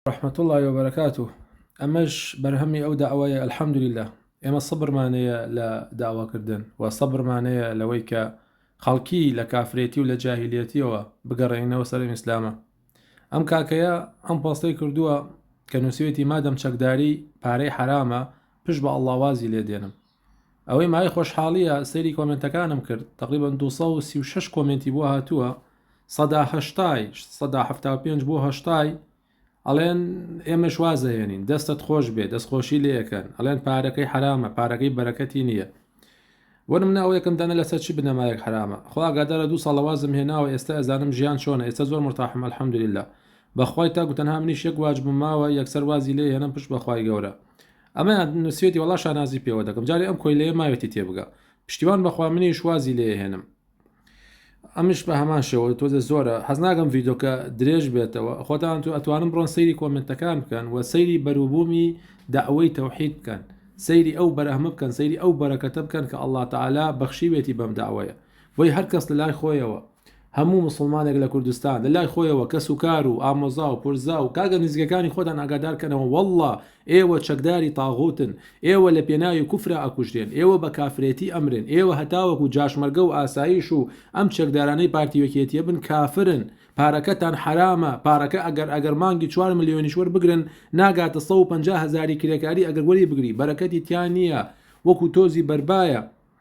رحمة اللە و برکاته ئەمەش بەرهەمی ئەو داوایە الحمدللە ئێمە سەبرمان هەیە لە داواکردن و سەبرمان هەیە لەوەی کە خەڵکی لە کافرێتی و لە جاهلیەتیەوە بگەڕێنەوە سەر ئیسلامە ئەم کاکەیە ئەم پۆستەی کردووە کە نووسێتی مادەم چەکداری پارەی حرامە پشت بە ئەڵاوازی لێ دێنم ئەوەی مای خۆشحاڵیە سەیری کۆمنتەکانم کرد تقریبا 236 کۆمنتی بۆ هاتووە سەدا هەشتای سەدا هەفتا پێنج بۆ هەشتای ئەڵێن ئێمەش وازەهێنین دەستت خۆش بێ دەستخۆشی لەکەن ئەڵێن پارەکەی حرامە پارەکەی بەرەکەتی نییە وەن منە ئەو یەکەم دانە لەسەر چی بنەمایەک حرامە خواگادارە دوو ساڵەوازم هێناوە ئێستا ئەزانم ژیان چۆنە ئێستا زۆر مرتاحم الحمدللا بەخوای تاکو تەنها منیش یەک واجبم ماوە یەکسەر وازی لێ هێنم پشت بەخوای گەورە ئەمەیان نوسوێتی وەڵا شانازی پێوە دەکەم جارێ ئەم کۆیلەیە ماوێتی تێبگا پشتیوان بەخوا منیش وازی لێ هێنم ئەمش بە هەمان شێوە تۆزە زۆرە حەزناگەم ڤیدۆکە درێژ بێتەوە خۆتان تو ئەتوانم بڕۆن سەیری کۆمنتەکان بکەن و سەیری بەروبوومی داوەی تەوحید بکەن سەیری ئەو بەرەهمە بکەن سەیری ئەو بەرەکەتە بکەن کە ئەلله تعالا بەخشیوێتی بەم داوەیە بۆی هەر کەس لە لای خۆیەوە هەموو مسوڵمانێک لە کوردستان لە لای خۆیەوە کەس و کار و ئامۆزا و پرزا و کاگە نزیکەکانی خۆتان ئاگادارکەنەوە واللە ئێوە چەکداری تاغوتن ئێوە لە پێناوی کوفرا ئەکوژرێن ئێوە بە کافرێتی ئەمرن ئێوە هەتاوەکو جاشمەرگە و ئاسایش و ئەم چەکدارانەی پارتی یەکێتیە بن کافرن پارەکەتان حەرامە پارەکە ئەگەر ئەگەر مانگی چوار ملیۆنیش وەربگرن ناگاتە سەد و پەنجا هەزاری کرێکاری ئەگەر وەری بگری بەرەکەتی تیا نیە وەکو تۆزی بەربایە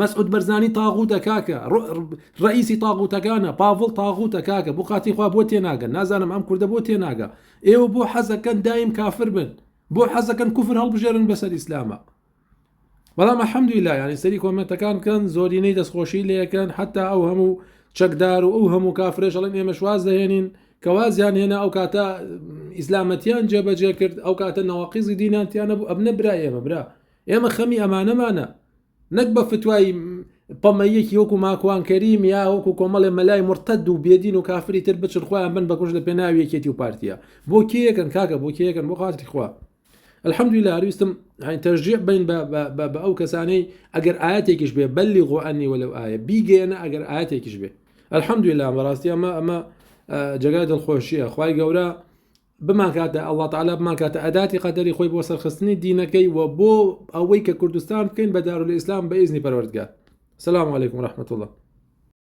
مەسعود بەرزانی تاغوتە کاکە رئیسی تاغوتەکانە پاڤڵ تاغوتە کاکە بۆ خاتی خوا بۆ تێناگەن نازانم ئەم کوردە بۆ تێناگا ئێوە بۆ حەزەکەن دایم کافر بن بۆ حەزەکەن کوفر هەڵبژێرن بەسەر ئیسلامە بەڵام حەمدوی لا ینی سەری کۆمنتەکان کەن زۆرینەی دەستخۆشی لەکەن حتا ئەو هەموو چەکدار و ئەو هەموو کافرێشڵن ئێمە شواز دەهێنین کەوازیان هێنا ئەو کاتە ئیسلامەتیان جێبەجێ کرد ئەو کاتە نەواقیزی دینانتیانە بوو ئەبنە برا ئێمە برا ئێمە خەمی ئەمانەمانە نەک بە فتوای پەمەییەکی وەکو ماکوان کەریم یا وەکو کۆمەڵێ مەلای مرتەد و بێدین و کافری تر بچن خۆیان بن بەکوش لە پێناوی یەکێتی و پارتیە بۆ کێیەکەن کاکە بۆ کێیەکەن بۆ خاتری خوا الحمدلله هەرویستم تەژیع بین بە ئەو کەسانەی ئەگەر ئاەتێکیش بێ بەلی غۆئەنی وە لەو ئاە بیگەیەنە ئەگەر ئاەتێکیش بێ الحمدلله بەڕاستی ئەمە ئەمە جگای دڵخۆشیە خی گەورە بمانکاتە اللە تعالی بمانکاتە ئەداتی قەدەری خۆی بۆ سەرخستنی دینەکەی و بۆ ئەوەی کە کوردستان بکەین بە دارولئیسلام بە ئیزنی پەروەردگار سلام علیکم و رحمت اللە